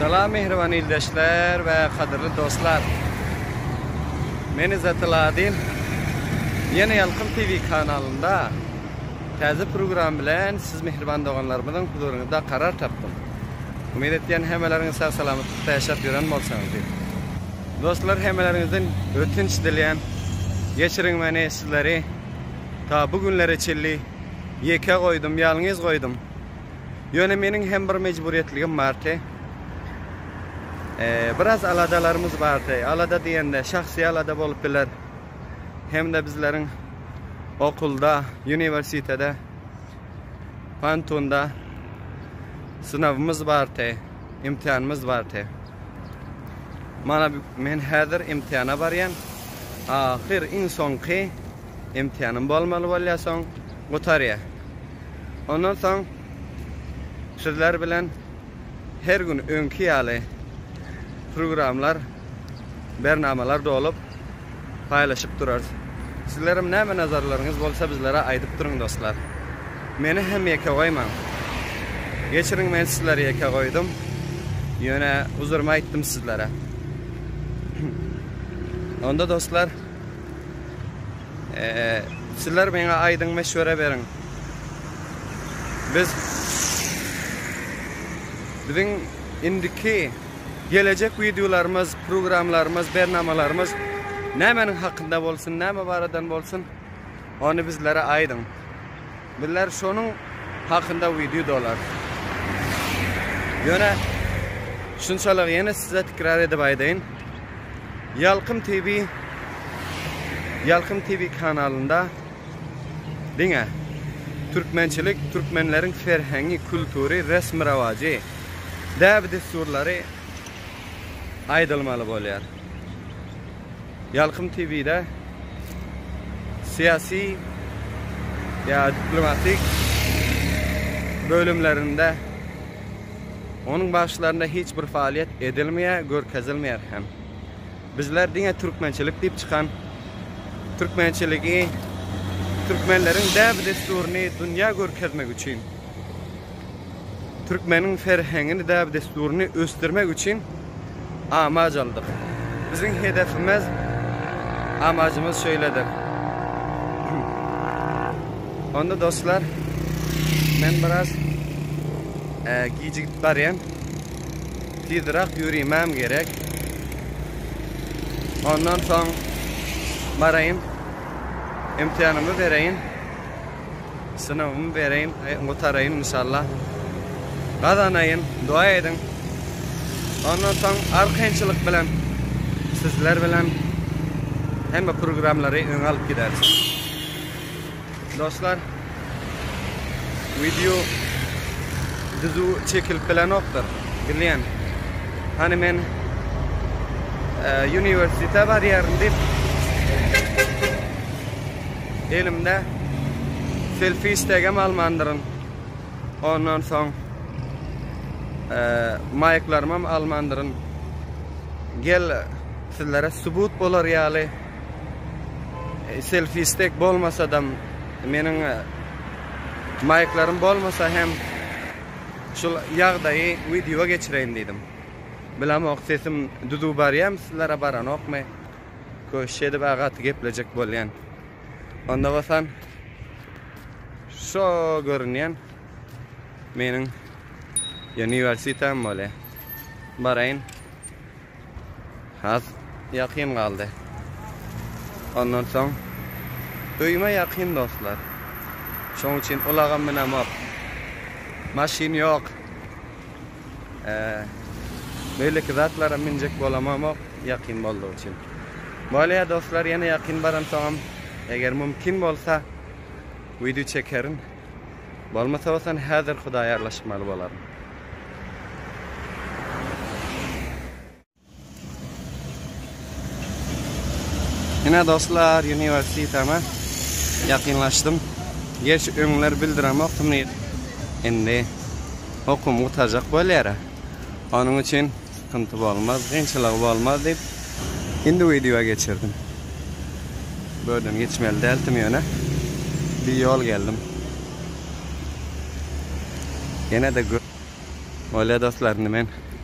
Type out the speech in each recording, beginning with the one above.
Salam mehriban ildeşler we kadyrly dostlar. Men Izzat Aladin. Ýene Ýalkym TV kanalynda täze program bilen siz mehriban doganlarymyzyň huzuryňyzda karar tapdym. Umyt etýän hemmeleriňiz sag salamatlyk ýaşap ýören bolsaňyz diýip. Dostlar hemmeleriňizden ötünç dilýän. Geçiriň meni sizleri ta bu günlere çilli ýeke goýdum, ýalňyz goýdum. Ýöne meniň hem bir mejburyýetligim bardy. Biraz aladalarymyz bardy. Alada diýende şahsy alada bolup biler. Hem-de bizleriň okulda, uniwersitede Pantunda synawymyz bardy, imtihanymyz bardy. Mana men häzir imtihana barýan. Ahyr iň soňky imtihanym bolmaly bolýar soň gutarýar. Ondan soň sizler bilen her gün öňki ýaly programlar bernamalar dolup paýlaşyp durarys. Sizlerem näme nazarlaryňyz bolsa bizlere aýdyp duruň dostlar. Meni hem ýeke goýmaň. Geçiriň men sizleri ýeke goýdum. Ýöne uzurymy aýtdym sizlere. Onda dostlar Sizler meňe aýdyň meşwere beriň. Biz biziň indiki gelejek wideolarymyz, programmalarymyz, bernamalarymyz nämeniň hakynda bolsun, näme baradan bolsun, ony bizlere aýdyň. Bizler şonuň hakynda wideo dolarys. Ýöne şunçalygy ýene size tikrar edip aýdaýyn. Ýalkym TV Ýalkym TV kanalynda diňe türkmençilik, türkmenleriň serheňi, kultury, resmi-rawajy, däbi-dessurlary aýdylmaly bolýar. Ýalkym TV-de syýasy ýa diplomatik bölümlerinde onuň bagşylarynda hiç bir faaliýet edilmeýär, görkezilmeýär hem. Bizler diňe türkmençilik diýip çykan türkmençiligi, türkmenleriň däp-dessuryny dünýä görkezmek üçin. Türkmeniň serheňini däp-dessuryny ösdürmek üçin amaç aldyk. Biziň hedefimiz, amacymyz şeýledir. Onda dostlar, men biraz gijigip barýan. Tizrak ýörimäm gerek. Ondan soň baraýyn. Imtihanymy bereýin. Synawymy bereýin, gutaraýyn inşallah. Gazanaýyn, doa ediň. Ondan soň arkaýynçylyk bilen sizler bilen hemme programlary öňe alyp gideris. Dostlar, wideo düzüw çekilip bilenokdyr, bilýän. Hany men e, uniwersitete barýaryn diýip Elimde selfi stegem almandyryn. Ondan soň maýklarymam almandyryn. Gel sizlere subut bolar ýaly selfi steg bolmasadam meniň maýklarym bolmasa hem şul ýagdaýy wideoa geçireýin diýdim. Bilemok sesim düzüw barýamy sizlere baranokmy. Köşk edip gaty geplejek bolýan. Onda bolsam şo görünýän meniň uniwersitem bolýar. Baraýyn. Has ýakyn galdy. Ondan soň öýüme ýakyn dostlar. Şoň üçin ulagam binemok. Maşyn ýok. Beýleki zatlara münjek bolamamok ýakyn boldugy üçin. Bolýa dostlar ýene ýakyn baramsoňam eger mümkin bolsa wideo çekerin. Bolmasa bolsa häzir hudaýarlaşmaly bolaryn. Ine dostlar, uniwersiteme ýakynlaşdym. Gerçi öňler bildiremokdym nirede. Indi okumy gutarjak bolýar-a. Onuň üçin sykynty bolmaz, kynçylygy bolmaz diýip, indi wideoa geçirdim. Bu ýerden geçmeli däldim ýöne bir ýol geldim. Ýene-de Bolýar dostlar, indi men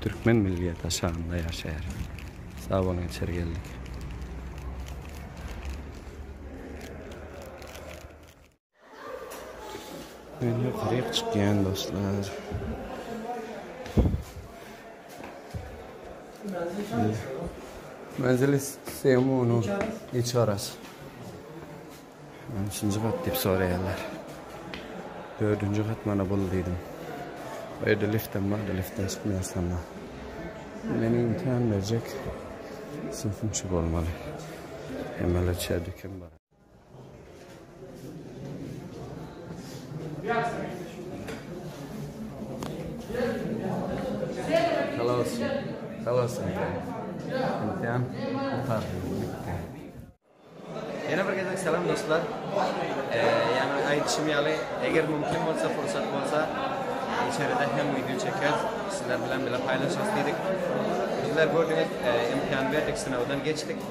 Türkmen milli daşagynda ýaşaýar. Sag boluň içeri geldik. Men ýokaryk çykýan dostlar. Menzil isteýan muny. Iç garas. Näçinji gat diýip soraýarlar. Dördünji gat mana bul diýdim. Bu ýerde liftem bar-da, liftten çykmaýarsanma. Meniň imtihan berjek synpym şu bolmaly. Emele içeri dükem bar. Halas, halas imtihan. Imtihan gutardy, bitdi. Ýene bir gezek salam dostlar. Ýa-da aýdyşym ýaly, eger mümkin bolsa, pursat bolsa, içeride hem wideo çekeris, sizler bilen bile paýlaşarys diýdik. Sizler gördüňiz, imkan berdik, synagdan geçdik.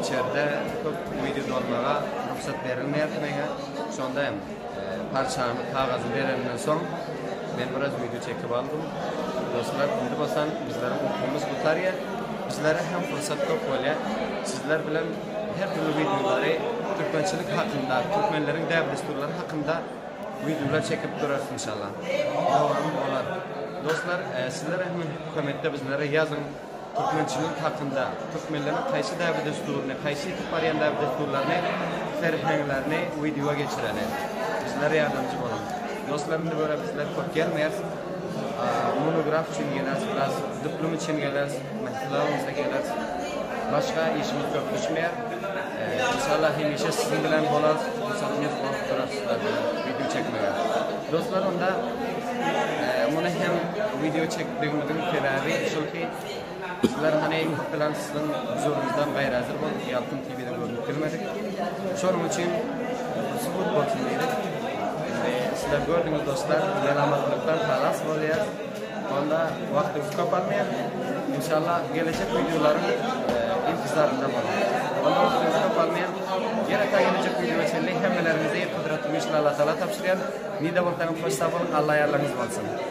Içeride köp wideo dolmaga rugsat berilmeýär kinoga. Şonda hem. Parçany, kagazy bereninden soň, men biraz wideo çekip aldym. Dostlar, indi bolsa bizleriň ukumyz gutarýar. Bizlere hem pursat köp bolýar. Sizler bilen her dürli wideolary, türkmençilik hakynda, türkmenleriň däp-dessurlary hakynda wideolar çekip durarys inşallah. Dowamy bolar. Dostlar, sizler hem kommentde bizlere ýazyň. Türkmençilik hakynda, türkmenleriň haýsy däbe-dessuryny, haýsy ýitip barýan däbe-dessurlaryny, serheňlerini wideoa geçireli. Bizlere ýardamçy boluň. Dostlar indi görä bizler köp gelmeýäs. Monograf üçin geleris biraz, diplom üçin geleris, mählelerimize geleris. Başga işimiz köp düşmeýär. Inşallah hemişe siziň bilen bolarys pursatymyz bolup durar sizler bilen video çekmege. Dostlar onda muny hem video çekdigimiziň sebäbi şol ki sizler hani bilen siziň huzurunuzdan gaýra hazır bolup Ýalkym TV-de görünip bilmedik. Şonuň üçin subut bolsun diýdik. Sizler gördüňiz dostlar, melamatlykdan halas bolýar. Onda wagtyňyz köp almaýan. Inşallah gelejek wideolaryň intizarynda boluň. Onda wagtyňyz köp almaýan. Ýene ta gelejek wideoa çenli hemmeleriňizi Gudratly Güýçli Allatagala tabşyrýan. Nide bolsaňyz hoş sag boluň Alla ýarlaryňyz bolsun.